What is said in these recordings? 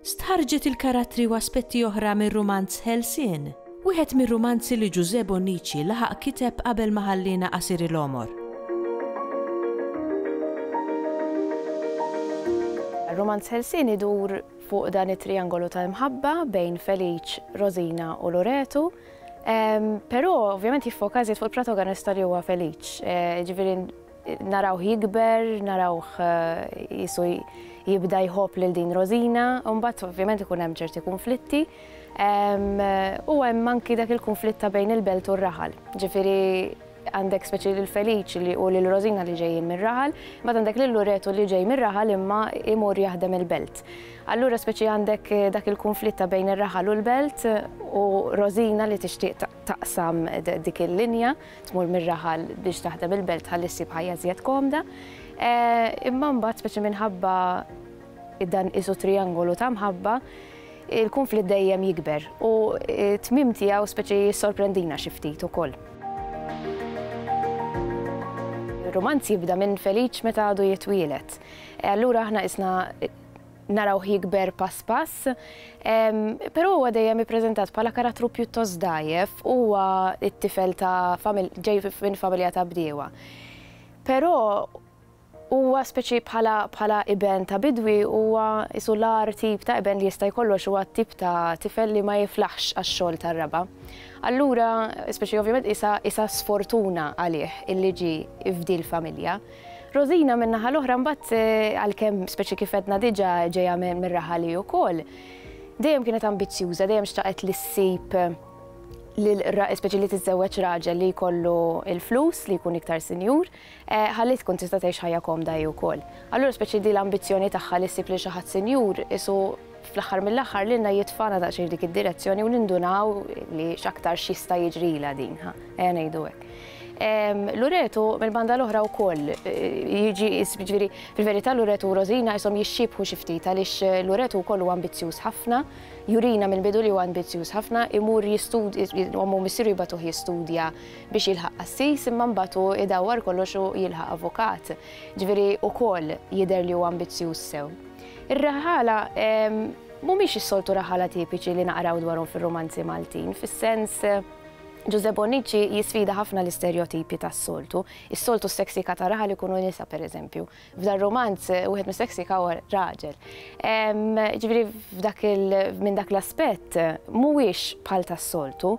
Stħarrġet il-karattri u aspetti oħra mir-rumanz Ħelsien, wieħed mir-rumanzi li Ġużè Bonnici laħaq kiteb qabel ma ħalliena qasir il-għomor. Rumanz Ħelsien idur fuq dan it-triangolu ta' imħabba bejn Felice, Rosina u Loretu, però ovvjament jiffoka iżjed fuq il-protagonista li huwa Felice, jiġifieri Narawh jikber, narawh qisu jibda jħobb lil din Rosina, u mbagħad ovvjament ikun hemm ċerti kunflitti. U hemm anki dak il-kunflitt ta' bejn il-belt u r-raħal. Ġifieri għandek speċi lil Feliċ li u lil Rosina li ġejjin mir-raħal, imbagħad għandek lil Luretu li ġej mir-raħal imma jmur jaħdem il-belt. Allura speċi għandek dak il-kunflitt ta' bejn ir-raħal u l-belt u Rosina li tixtieq taqsam dik il-linja. tmur mir-raħal biex taħdem il-belt ħalli ssib ħajja żjed komda. Imma mbagħad speċi minħabba dan isu triangolu ta' mħabba, il-konflitt dejjem jikber u tmim tiegħu speċi jissorprendina xi ftit ukoll. Ir-rumanz jibda minn Feliċ meta għadu jitwielet. Allura aħna isna narawh jikber pass pass, però huwa dejjem ippreżentat bħala karattru pjuttost dgħajjef, huwa t-tifel ta' ġej minn familja ta' bdiewa. Però huwa speċi bħala iben ta' bidwi huwa qisu l-agħar tip ta' iben li jista' jkollok, huwa t-tip ta' tifel li ma jiflaħx għax-xogħol tar-raba'. Allura, speċi ovvjament qisha sfortuna għalih illi ġie f'dil familja. Rosina min-naħa l-oħra mbagħad għalkemm speċi kif għedna diġà ġejja mir-raħal hi wkoll, dejjem kienet ambizzjuża, dejjem xtaqet li ssib lil speċi li tiżżewweġ raġel li jkollu l-flus, li jkun iktar sinjur, ħalli tkun tista' tgħix ħajja komda hi wkoll. Allura speċi din l-ambizzjoni tagħha li ssib lil xi ħadd sinjur qisu fl-aħħar mill-aħħar lilna jitfana daqsxejn f'dik id-direzzjoni u nindunaw li x'aktar x'jista' jiġrilha din, ha, ejja ngħidu hekk. Luretu mill-banda l-oħra wkoll eh, jiġi jiġifieri fil-verità Luretu u Rosina jisom jixxibħu xi ftit għaliex eh, Luretu wkoll huwa ambizzjuż ħafna, jurina minn bidu li huwa ambizzjuż ħafna, imur jistudja ommu missiru jibatuh jistudja biex jilħaq assis imma mbagħad hu idawwar kollox u jilħaq avukat. Ġifieri wkoll jidher li huwa ambizzjuż sew. Ir-raħala mhumiex is-soltu raħala tipiċi li naqraw dwarhom fir-rumanzi Maltin, fis-sens Ġużè Bonnici jisfida ħafna l-isterjotipji tas-soltu. Is-soltu s-seksika ta' raħal ikunu nisa pereżempju. F'dan rumanz wieħed mis-seksika huwa raġel. Ġifieri f'dak minn dak l-aspett mhuwiex bħal tas-soltu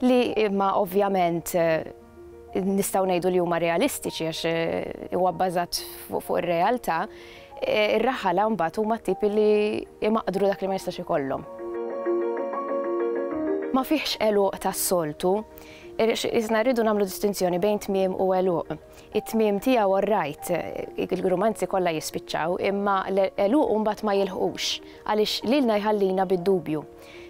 li imma ovvjament nistgħu ngħidu li huma realistiċi għax eh, huwa bbażat fuq ir-realtà, eh, ir-raħala mbagħad huma tipi li imaqdru dak li ma jistax ikollhom. Ma fihx eluq tas-soltu, Isna rridu namlu distinzjoni bejn tmiem u eluq. It-tmiem tiegħu orrajt, il-grumanzi kollha jispiċċaw, imma l-eluq mbagħad ma jilħqux għaliex lilna jħallina bid-dubju.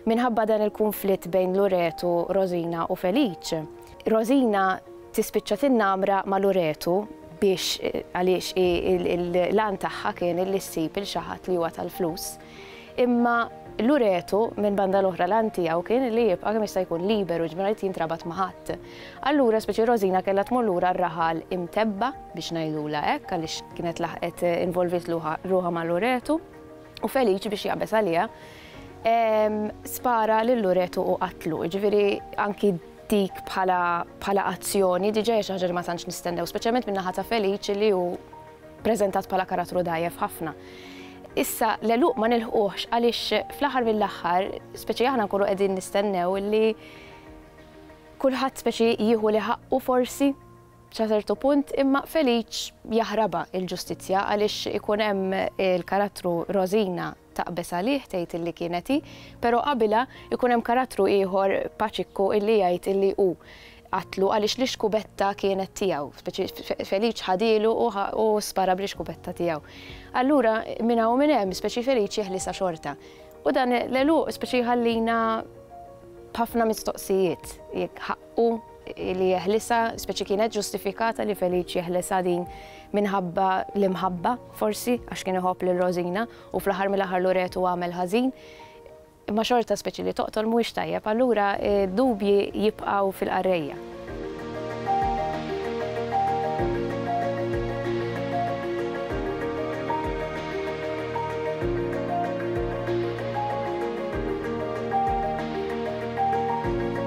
Minħabba dan il-kunflitt bejn Luretu, Rosina u Felice, Rosina tispiċċa tinnamra ma' Luretu biex għaliex l-għan tagħha kien li ssib il xi ħadd li huwa tal-flus. Imma Luretu minn banda l-oħra l-għan tiegħu kien li jibqa' kemm jista' jkun liberu ġbir li jintrabat ma' ħadd. Allura speċi Rosina kellha tmur lura r-raħal imtebba biex ngħidula hekk għaliex kienet laħqet involvit ruħha ma' Luretu. u Feliċi biex jaqbeż għaliha spara lil Loreto u qatlu. Ġifieri anki dik bħala azzjoni diġà hija xi ħaġa li ma tantx nistennew, speċjalment min-naħa ta' Feliċi li hu preżentat bħala karattru dajjef ħafna. Issa l-eluq ma nilħuħx għaliex fl-aħħar mill-aħħar, speċi aħna nkunu qegħdin nistennew li kulħadd speċi jieħu li ħaqqu forsi Sa ċertu punt, imma Felic jaħrabha l-ġustizzja għaliex ikun hemm il-karattru Rosina taqbeż għalih tgħid illi kienet hi, però qabilha jkun hemm karattru ieħor Paċikku illi jgħid illi hu qatlu għaliex l-ixkubetta kienet tiegħu, Felic ħadielu u spara bl-ixkubetta tiegħu. Allura minn hawn u minn hemm speċi Felic jeħlisha xorta. U dan l-għeluq speċi jħallina b'ħafna mistoqsijiet jekk u li jeħlisha, speċi kienet ġustifikata li Feliċ jeħlisha din minħabba l-imħabba, forsi, għax kien iħobb lil Rosina u fl-aħħar mill-aħħar Loreto għamel ħażin. Imma xorta speċi li toqtol mhuwiex tajjeb, allura dubji jibqgħu fil-qarrejja.